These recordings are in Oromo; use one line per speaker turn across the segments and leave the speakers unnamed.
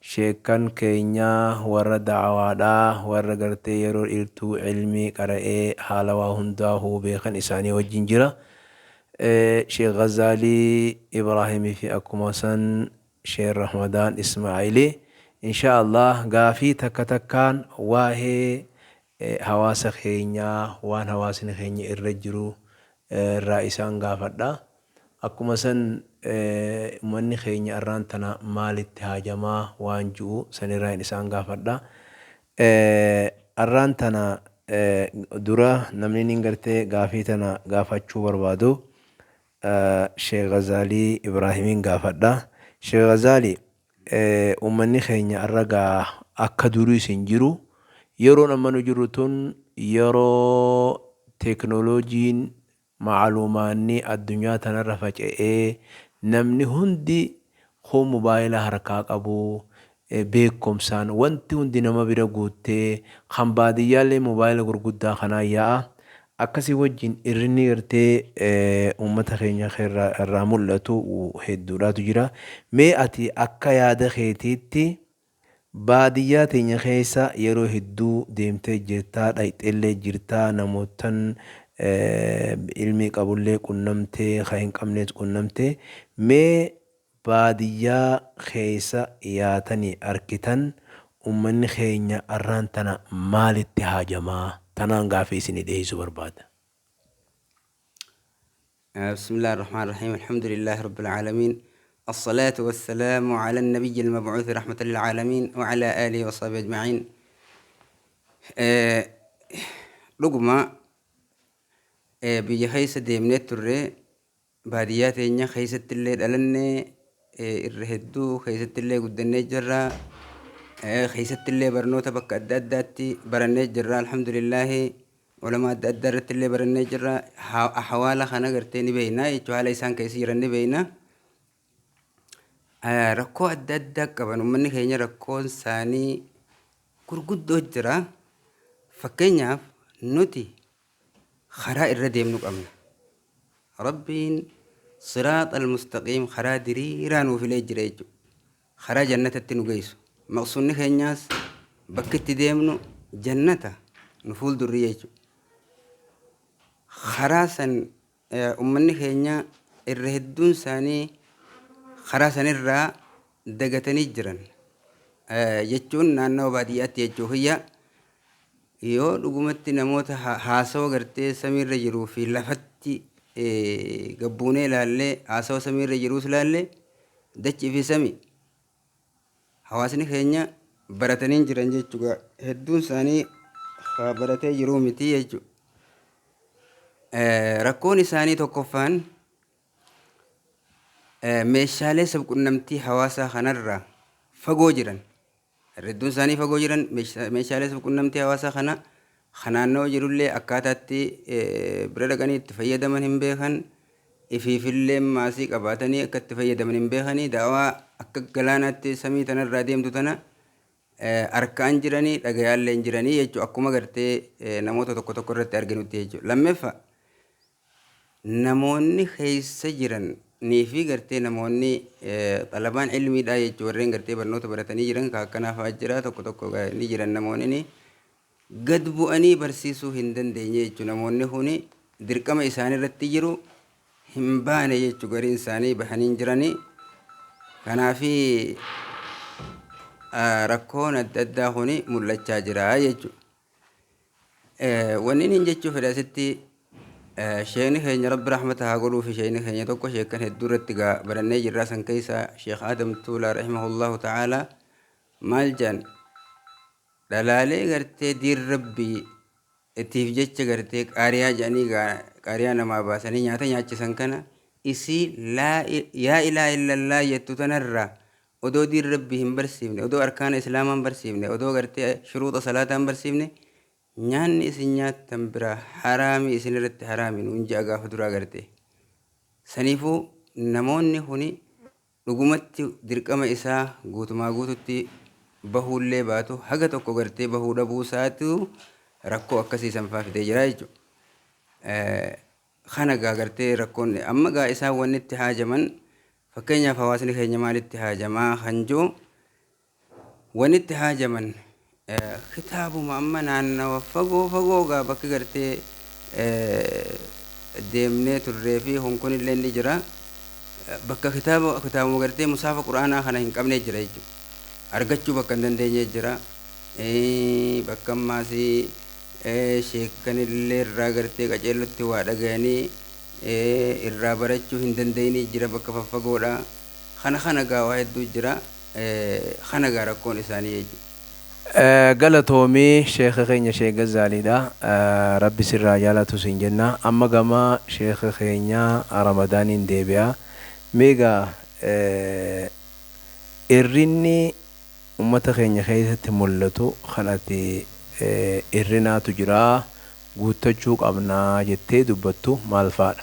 Sheekkan keenya warra da'awaadha, warra gartee yeroo dheertuu ilmii qara'ee haala waa hundaa huubee kan isaanii wajjin jira. Sheekh Ghazaalii Ibraahimii fi akkuma san Sheekh Rahmadaan Ismaa'ilii. Inshaa Allaah gaafii takka takkaan waa'ee hawaasa keenyaa waan hawaasni keenya irra jiru irraa isaan gaafadha. Akkuma san ummanni keenya arraan tana maalitti haajamaa waan ju'u san irraayin isaan gaafadha. Arraan tana dura namniniin gartee gaafii tana gaafachuu barbaadu Sheikh Ghazaalii Ibraahimiin gaafadha. Sheikh Ghazaalii! Ummanni keenya arra egaa akka duriis hin jiru. Yeroon amma nu jirru tun yeroo teeknooloojiin maaluumaanni addunyaa tanarra faca'ee namni hundi kuun mobaayila harkaa qabu, beekumsaan wanti hundi nama bira guuttee kan baadiyyaallee mobaayila gurguddaa kanaan yaa'a. Akka si wajjin irrinni gartee uummata keenya keerraa irraa mul'atu hedduudhaatu jira. Mee ati akka yaada keetiitti baadiyyaa teenya keessa yeroo hedduu deemtee jirtaa, dhayxeellee jirtaa, namoottan ilmii qabullee qunnamtee, ka hin qabnees qunnamtee. Mee Baadiyyaa keessa yaatani arkitan ummanni keenya arraan tana maalitti haajama? Tanaan gaafii isinii dhiheessuu barbaada.
Bismillah Ar-Rahmaan Ar-Rahiim Alhamdulillah Rabbil Aalamiin As-Salaatu Was-Salaamu Ala Nabiyyil Mab'uuthi Rahmatan Lil Aalamiin Wa Ala Aalihi Wa Sahbihi Ajma'iin Dhuguma biyya keessa deemnee turre Baadiyyaa teenya keessattillee dhalannee irra hedduu keessattillee guddannee jirra. Keessattillee barnoota bakka adda addaatti barannee jirra. Alhamdulillaahi ulama adda addaa irrattillee barannee jirra. Hawaala kana gartee ni beekna jechuudha. Haala isaan keessa jiran ni beekna. Rakkoo adda addaa qaban uummanni keenya rakkoon isaanii gurguddoo jira. Fakkeenyaaf nuti Karaa irra deemnu qabna. Rabbiin siraaxal mustaqiim karaa diriiraa nuu filee jira jechuudha. Karaa jannatatti nu geessu. Maqsuunni keenyaas bakki itti deemnu jannata nu fuuldurri jechuudha. Karaa san Ummanni keenya irra hedduun isaanii karaa sanirraa dagatanii jiran jechuun naannawa baadiyyaatti jechuu kiyya yoo dhugumatti namoota haasawa gartee samiirra jiruu fi lafatti gabbuunee ilaallee haasawa samiirra jiruus ilaalle dachii fi sami Hawaasni keenya baratanii hin jiran jechuudha. Hedduun isaanii haa baratee jiruu miti jechuudha. Rakkoon isaanii tokkoffaan meeshaalee sabqunnamtii hawaasaa kanarraa fagoo jiran. Hedduun isaanii fagoo jiran meeshaalee sabqunnamtii hawaasaa kana ka naannawa jirullee akkaataa itti bira dhaqanii itti fayyadaman hin beekan, ifiifillee maasii qabaatanii akka itti fayyadaman hin beekanii, da'awaa akka galaanaatti samii tanarraa deemtu tana harkaan jiranii dhagayaallee hin jiranii jechuu akkuma gartee namoota tokko tokko irratti arginutti jechuudha. Lammeffa namoonni keessa jiran nii fi gartee namoonni xalabaan ilmiidhaa jechuu warreen gartee barnoota baratanii jiran ka akkanaa fa'aa jira tokko tokko ni jiran namoonni gad bu'anii barsiisuu hin dandeenye jechu namoonni kuni dirqama isaanii irratti jiru hin baane jechu gariin isaanii bahanii hin jirani kanaafi rakkoon adda addaa kuni mul'achaa jira jechu wannin hin jechuu fedha asitti sheekni keenya rabbi rahmata haa godhuu fi sheekni keenya tokko sheekkan hedduu irratti gaa barannee jirraa san keessa sheek aadam tuulaa rahimahullahu ta'aalaa maal jedhan Dhalaalee gartee diin rabbi tiif jecha gartee qaariyaa jedhanii gaa qaariyaa namaa baasanii nyaata nyaachisan kana isii laa yaa ilaa illallaa jettu tanarraa odoo diin rabbi hin barsiifne odoo arkaana islaamaa hin barsiifne odoo gartee shuruuxa salaataa hin barsiifne nyaanni isin nyaattan biraa haraami isin irratti haraami nuun ja'a gaafa duraa gartee saniifuu namoonni kuni Dhugumatti dirqama isaa guutumaa guututti bahuullee baatu haga tokko gartee bahuu dhabuu isaatu rakkoo akkasii san faa fidee jira jechuudha. Kana gaa gartee rakkoon amma gaa isaan wanni itti haajaman fakkeenyaaf hawaasni keenya maalitti haajamaa kan jiru Wanni itti haajaman kitaabuma amma naannawa fagoo fagoo gaa bakki gartee deemnee turree fi kun kunillee ni jira. Bakka kitaaba kitaabuma gartee musaafa quraanaa kana hin qabnee jira jechuudha. Argachuu bakka hin dandeenye jira. Bakka ammaas sheekanillee irraa gartee qaceellotti waa dhagayanii irraa barachuu hin dandeenye jira bakka faffagoodha. Kana kana gaa waa hedduu jira. Kana egaa rakkoon isaanii jechuudha. Galatoomi
sheekha keenya sheek Gazzaaliidha rabbi sirra haa jaalatu siin jenna amma gama sheekha keenya Ramadaaniin deebi'a mee egaa irrinni ummata keenya keessatti mullatu kan ati irrinaatu jira guuttachuu qabna jettee dubbattu maalfaadha?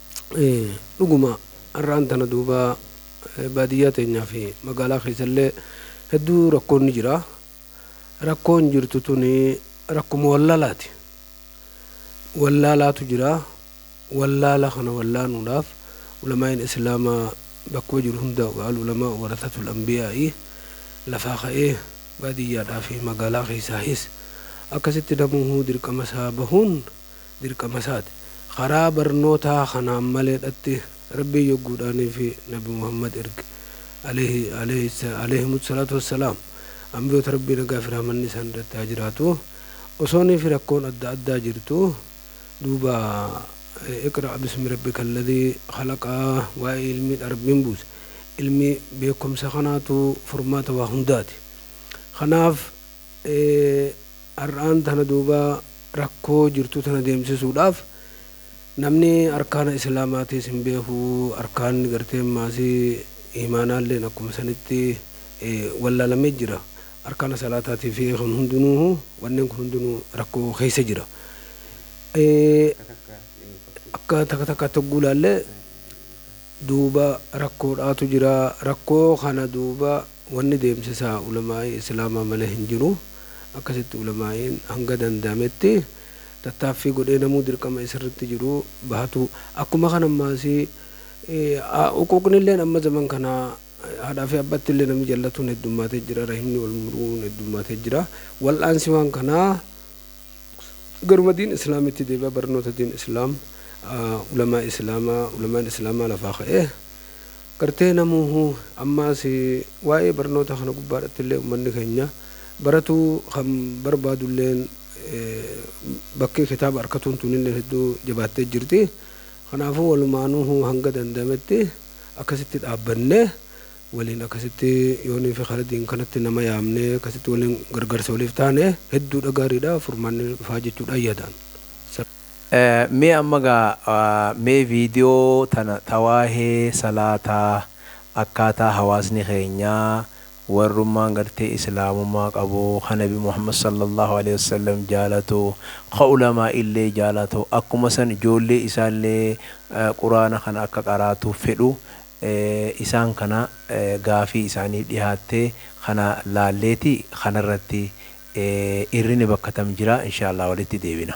Dhuguma har'aan tana duuba baadiyyaa teenyaa fi magaalaa keessallee hedduu rakkoon ni jira. Rakkoon jirtu tuni rakkuma wallaalaati. Wallaalaatu jira. Wallaala kana wallaanuudhaaf ulamaa'iin Islaamaa bakkuma jiru hundaa'u ka al-ulamaa warasatul anbiyaa'i lafaa ka'ee baadiyyaadhaa fi magaalaa keessaahis akkasitti namuuhuu dirqama isaa bahuun dirqamasaati. Karaa barnootaa kanaan maleedhatti Rabbiin yogguudhaaniifi Nabi Muhammad erge, aleyhi, aleyhi, aleyhimus salaatu wassalaam, Anbiyoota Rabbii nagaafi rahmanni isaan irratti haa jiraatu, osooniifi rakkoon adda addaa jirtu, duuba Iqra' bismi rabbikal ladhii khalaqa waa'ee ilmiidha Rabbiin buuse. Ilmi, beekkomsa kanaatu furmaata waa hundaati. Kanaaf, Har'aan tana duuba rakkoo jirtu tana deemsisuudhaaf namni arkaana islaamaatiis hin beeku, arkaanni gartee maasii iimaanaalleen akkuma sanitti wallaalamee jira. Arkaana salaataatii fi kun hundinuuhu wanneen kun hundinuu rakkoo keessa jira. Akka takka takkaatti hogguu ilaalle duuba rakkoodhaatu jira. Rakkoo kana duuba. Wanni deemsisaa ulamaa'ii islaamaa malee hin jiru. Akkasitti ulamaa'iin hanga danda'ametti tattaaffii godhee namuu dirqama isarratti jiru bahatuu. Akkuma kana ammaasii uquuqnilleen amma zaman kana haadhaa fi abbattillee namni jallatuun heddummaatee jira, rahimni wal muruun heddummaatee jira. Wal'aansi waan kanaa garuma diin islaamitti deebi'a, barnoota diin islaam, ulamaa'ii islaamaa, ulamaa'in islaamaa lafaa ka'ee. Gartee namuuhu ammaas waa'ee barnoota kana gubbaadhattillee ummanni keenya baratuu kan barbaadulleen bakki kitaaba arkatuun tunilleen hedduu jabaattee jirti. Kanaafuu walumaanuuhu hanga danda'ametti akkasitti dhaabbannee waliin akkasitti yooniifi karadiin kanatti nama yaamnee akkasitti waliin gargaarsa waliif taane hedduudha gaariidha furmaanni dhufaa jechuudhaan yaada.
Mee amma gaa mee video tana ta waahee salaataa akkaataa hawaasni keenya warrummaan gartee islaamummaa qabu ka nabi muhammad sallallaahu aleyhi wassallam jaalatu ka ulamaa'illee jaalatu akkuma san ijoollee isaallee quraana kana akka qaraatuuf fedhu isaan kana gaafii isaaniif dhihaatte kana laalleeti kanarratti irrine bakka tam jira inshaallaa walitti deebina.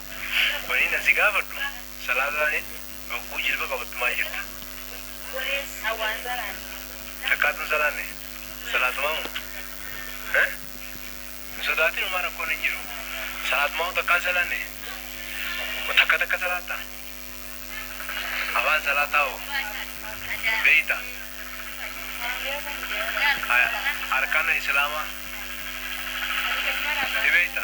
Waniin an si gaafadhu salaataa hogguu jilba qabattu maal jetta? Waniin an waan salaanne. Takkaatu hin salaanne? Salaatumaa moo? He? Hin sodaatin homaa rakkoon hin jiru. Salaatumaa moo takkaa hin salaanne? Moo takka takka salaatta? Afaan salaataa hoo beeyta? Haya arkaana islaamaa ni beeyta?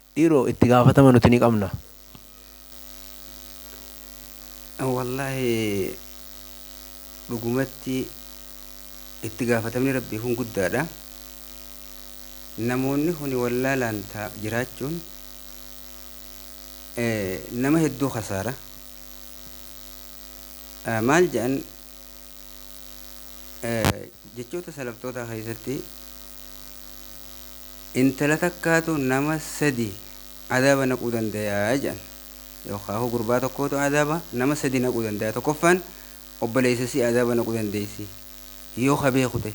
Dhiiroo itti gaafatama nuti ni qabna.
Wallaahi dhugumatti itti gaafatamni rabbii kun guddaadha. Namoonni kuni wallaalaan ta jiraachuun eh, nama hedduu kasaara. Eh, maal jedhan Jechoota salaftootaa keessatti intala takkaatu nama sadi adaaba naquu dandaya jedhan. Yookaan gurbaa tokkootu adaaba nama sadi naquu dandaya. Tokkoffaan obboleessa isii adaaba naquu dandeessi. Yoo ka beeku ta'e.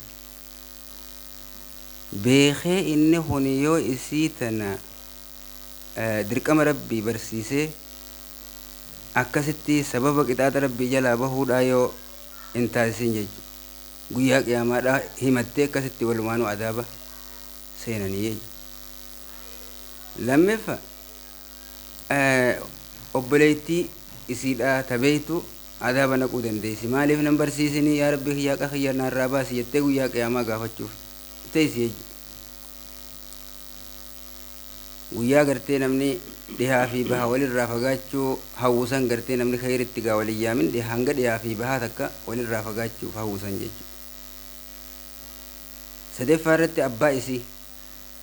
Beekee inni kun yoo isii tana dirqama Rabbii barsiisee akkasitti sababa qixaaxa Rabbii jalaa bahuudhaa yoo hin taasisin jechu guyyaa qiyaamaadhaa himattee akkasitti walumaanuu adaaba seenanii jechu lammeffa obboleeytii isiidhaa ta beeytu adaaba naquu dandeeysi maaliif nan barsiisinii yaa Rabbii kiyyaa qa kiyya naarraa baasi jettee guyyaa qiyaamaa gaafachuuf teeysi jechu Guyyaa gartee namni dhihaa fi baha walirraa fagaachuu hawwu san gartee namni khayritti gaa walin yaamin dhiha hanga dhihaa fi bahaa takka walirraa fagaachuuf hawwu san jechu. Sadeffaa irratti abbaa isii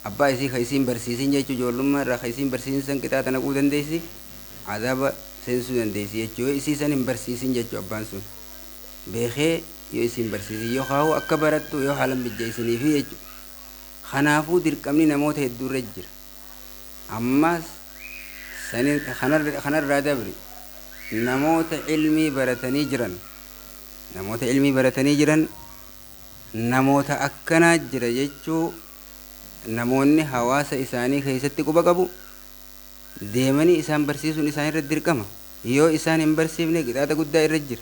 abbaa isii kha isiin barsiisin jechu joollummaa irraa kha isiin barsiisin san qixaaxa naquu dandeessi azaaba seensuu dandeessi jechu yoo isii san hin barsiisin jechu abbaan sun beekhee yoo isiin barsiisin yoo khaahu akka barattu yoo haalan mijjeessiniifi jechu Kanaafuu dirqamni namoota hedduurra jira. Ammas sani kanarraa dabri namoota ilmii baratanii jiran namoota ilmii baratanii jiran namoota akkanaa jira jechuu namoonni hawaasa isaanii keessatti quba qabu deemanii isaan barsiisuun isaanirra dirqama. Yoo isaan hin barsiifne qixaaxa guddaa irra jira.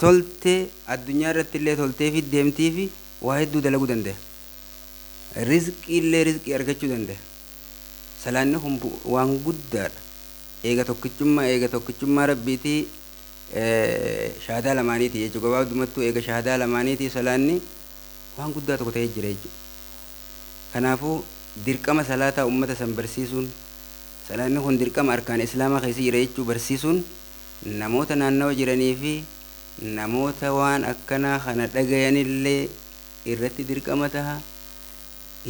tolte addunyaa irrattillee tolteefi deemtiifi waa hedduu dalaguu dandaya. Rizqiillee rizqii argachuu dandaya. Salaanni kun bu, waan guddaadha. Eega tokkichummaa eega tokkichummaa Rabbiiti shahaadaa lamaaniiti jechuudha. Gabaabdumattuu eega shahaadaa lamaaniiti salaanni waan guddaa tokko ta'ee jira jechuudha. Kanaafuu dirqama salaataa ummata san barsiisuun salaanni kun dirqama arkaana islaamaa keessa jira jechuu barsiisuun namoota naannawa jiranii fi namoota waan akkanaa kana dhagayanillee irratti dirqama taha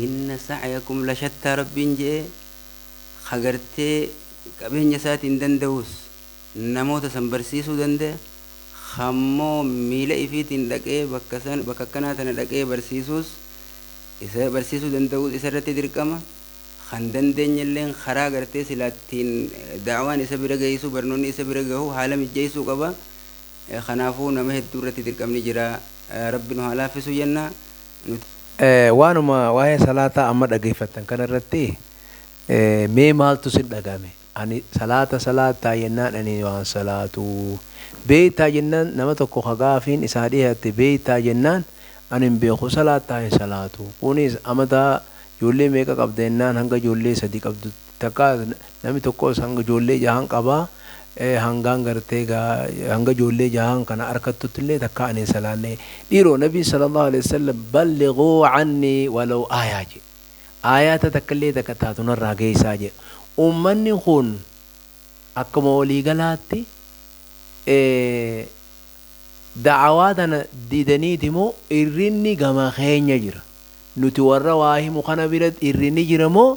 inna sa'yakum lashattaa Rabbiin je'e ka gartee qabeenya isaatiin danda'us namoota san barsiisuu dandaya ka ammoo miila ifiitiin dhaqee bakka san bakka akkanaa tana dhaqee barsiisuus isa barsiisuu danda'uus isarratti dirqama kan dandeenyelleen karaa gartee silaa ittiin da'awaan isa bira geeysu barnoonni isa bira gahu haala mijjeeysuu qaba kanaafuu nama hedduu irratti dirqamni jira rabbi nu haa laaffisu jenna nuti. Waanuma
waa'ee salaataa amma dhageeffattan kana irratti mee maaltu isin dhagahame? Ani salaata salaattaa jennaan ani waan salaatu beeytaa jennaan nama tokko ka gaafiin isaa dhihatte beeytaa jennaan ani hin beeku salaattaa hin salaatu kunis amata ijoollee meeqa qabda jennaan hanga ijoollee sadi qabdu takka nami tokkos hanga ijoollee jahan qaba hangaan gartee gaa hanga ijoollee jahan kana arkattutillee takkaa ani hin salaanne dhiiroo nabiin sallallahu aleyhi wassallam ballighuu cannii walow aayah jee Aayaata takkallee takka taatu narraa geessaa jedha. Ummanni kun akkuma walii galaatti da'awaa tana didaniiti moo irrinni gama keenya jira? Nuti warra waa himu kana bira irrinni jira moo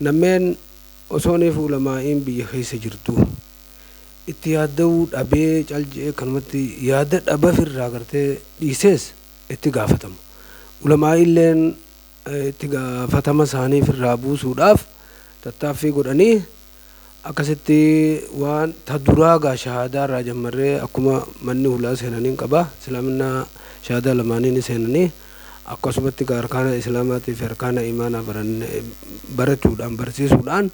Nammeen osoo neefu ulamaa'iin biyya keessa jirtuu itti yaadda'uu dhabee cal je'ee kanumatti yaada dhabafi irraa gartee dhiisees itti gaafatama. Ulamaa'iilleen itti gaafatama isaaniif irraa buusuudhaaf tattaaffii godhanii, Akkasitti waan ta duraa gaa shahaadaa irraa jammarree akkuma manni hulaa seenaniin qaba. Islaaminaa shahaadaa lamaanii ni seenanii. Akkasumatti gaa arkaana Islaamaatii fi arkaana imaanaa baranne barachuudhaan barsiisuudhaan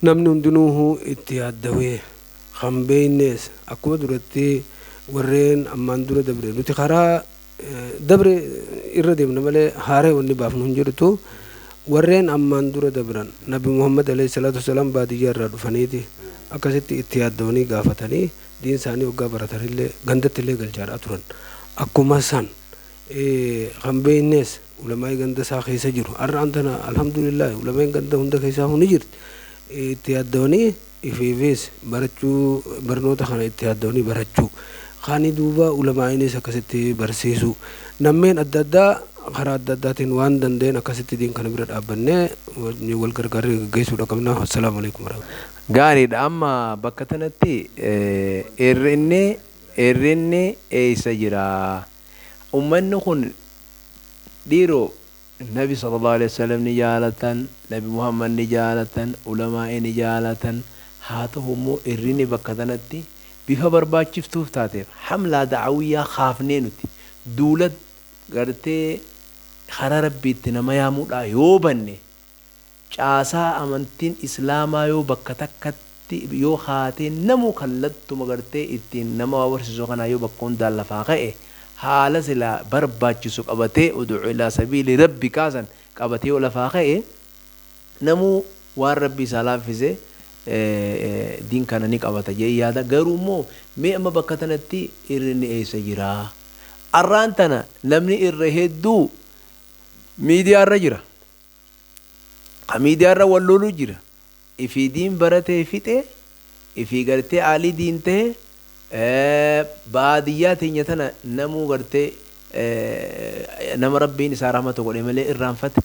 namni hundinuuhu itti yaaddawee kan beeynees akkuma duratti warreen ammaan dura dabre nuti karaa Dabre irra deemna malee haaraya wanni baafnu hin jirtu. Warreen ammaan dura dabran Nabi Muhammad aleyh salaatu wassalaam baadiyyaa irraa dhufaniiti akkasitti itti yaaddawanii gaafatanii diin isaanii hoggaa baratanillee gandatti illee galchaadhaa turan. Akkuma san kan beeynees ulamaa'ii ganda isaa keessa jiru. Har'aan tana alhamdulillaahi ulama'iin ganda hunda keessaahuu ni jirti. Itti yaaddawanii. ifiifis barachuu barnoota kana itti yaaddawanii barachuu kaanii duuba ulamaa'iinis akkasitti barsiisuu nammeen adda addaa karaa adda addaatiin waan danda'een akkasitti diin kana bira dhaabbannee wajjin wal gargaarree gaggeessuudha qabna wassalaamu aleykum warahmatullahi Gaariidha amma
bakka tanatti irrinni irrinni eessa jira ummanni kun dhiiroo. Nabi sallallaahu aleyhi wasallam ni jaalatan, Nabi Muhammad ni jaalatan, Ulamaa'ii ni jaalatan, haa tahu immoo irrini bakka tanatti bifa barbaachiftuuf taateef hamlaa da'awiyyaa kaafnee nuti duula gartee karaa Rabbiitti nama yaamudhaa yoo banne, Caasaa amantiin islaamaa yoo bakka takkatti yoo kaatee namuu kallattuma gartee ittiin nama waa barsiisu kanaa yoo bakka hundaan lafaa ka'e haala silaa barbaachisu qabatee udu'u ilaa sabiili rabbikaa san qabatee yoo lafaa ka'e namuu waan rabbi isaa laaffise diin kana ni qabata jedhee yaada garuu immoo mee amma bakka tanatti irrinni eessa jiraa arraan tana namni irra hedduu miidiyaa irra jira Ka miidiyaa irra wal looluu jira. Ifii diin baratee fixe, ifii gartee aalii diin tahe, baadiyyaa teenya tana namuu gartee nama Rabbiin isaa rahmata godhe malee irraanfate.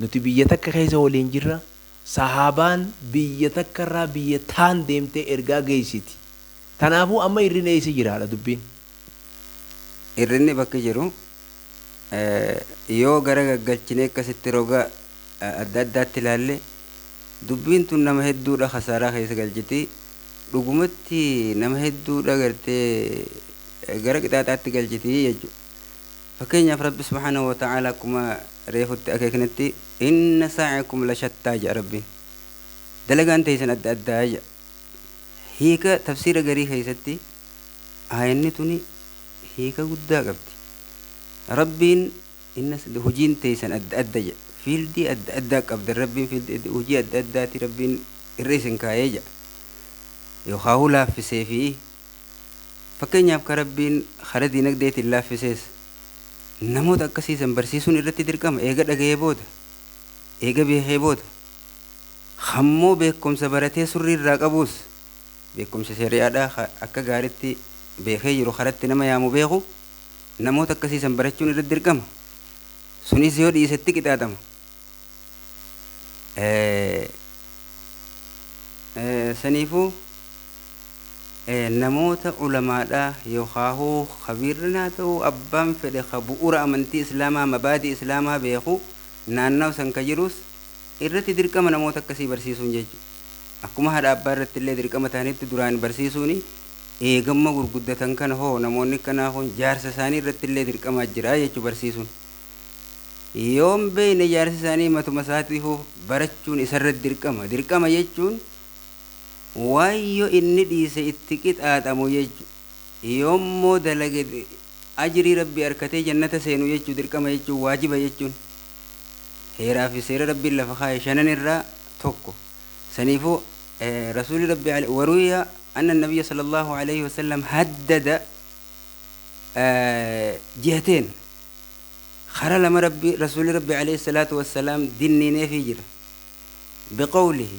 Nuti biyya takka keessa waliin jirra. Sahaabaan biyya takka irraa biyya taan deemtee ergaa geessiti. Tanaafuu amma irrina eessa jira dha dubbiin.
Hir'inni bakki jiru yoo gara gaggalchinee akkasitti roga adda addaatti ilaalle dubbiin tun nama hedduudha kasaaraa keessa galchiti. Dhugumatti nama hedduudha gartee gara qixaaxaatti galchiti jechuudha. Fakkeenyaaf Rabbi subhaanahu wa ta'aala akkuma reefutti akeeknetti inna sa'yakum lashattaa jedha Rabbiin. Dalagaan teeysan adda addaa jedha. Hiika tafsiira garii keessatti aayanni tuni hiika guddaa qabdi. Rabbiin inna sad hujiin teeysan adda adda jedha. Fiildii adda addaa qabdan Rabbiin fiildii adda hujii adda addaati Rabbiin irra isin kaayee jedha. Yookaahuu laaffisee fi fakkeenyaaf ka Rabbiin kara diinagdeetiin laaffisees namoota akkasii san barsiisuun irratti dirqama eega dhagayee booda eega beekee booda Kammoo beekkomsa baratee surrii irraa qabuus beekkomsa shari'aadhaa ka akka gaaritti beekee jiru karatti nama yaamu beeku namoota akkasii san barachuun irratti dirqama suniis yoo dhiise itti qixaaxama saniifuu namoota ulamaadhaa yookaahuu kabiirran haa ta'uu abbaan fedhe ka bu'ura amantii islaamaa mabaadii islaamaa beeku naannawa san ka jiruus irratti dirqama namoota akkasii barsiisuun jechu akkuma haadha abbaa irratti illee dirqama tahanitti duraan barsiisuuni eegamma gurguddatan kana hoo namoonni akkanaa kun jaarsa isaanii irratti illee dirqamaa jira jechu barsiisuun yoon beeyne jaarsi isaanii matuma isaatiifuu barachuun isarratti dirqama dirqama jechuun waan yoo inni dhiise itti qixaaxamu jechu yoommoo dalage Ajrii Rabbii arkatee jannata seenu jechu dirqama jechuun waajiba jechuun heeraa fi seera Rabbiin lafa kaaye shanan irraa tokko. Saniifu Rasuulli Rabbii aley waruwiya anna nabiyya sallallahu aleyhi wasallam haddada jihateen kara lama Rabbi Rasuulli Rabbii aleyhi salaatu wassalaam dinniineefii jira biqawlihi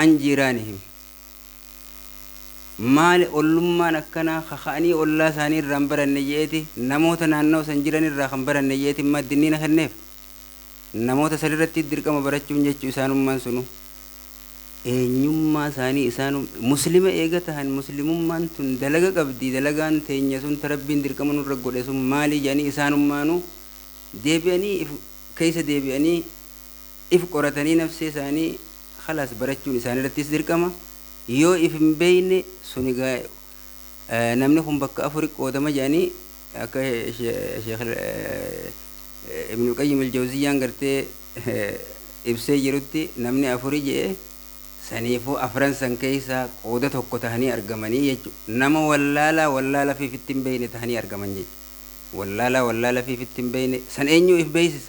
an jiiraanihim maali ollummaan akkanaa kaka'anii ollaa isaanii irraa hin baranne je'eeti namoota naannawa san jiran irraa kan baranne je'eeti imma addinniina kenneef namoota san irratti dirqama barachuun jechuu isaanummaan sunu eenyummaa isaanii isaanum muslima eega tahan muslimummaan tun dalaga qabdi dalagaan teenya sun ta rabbiin dirqama nurra godhe sun maalii jedhanii isaanummaanu deebi'anii if keessa deebi'anii If qoratanii nafsee isaanii khalaas barachuun isaanirrattis dirqama. Yoo if hin beeyne sun egaa namni kun bakka afuri qoodama jedhanii akka Sheikh Ibnul Qayyim Al-Jawziyyaan gartee ibsee jirutti namni afuri jedhe saniifuu afran san keeysaa qooda tokko tahanii argamanii jechu. Nama wallaalaa wallaalafii ifitti hin beeyne tahanii argaman jechu. Wallaalaa wallaalafii ifitti hin beeyne san eenyuu if beeysisa?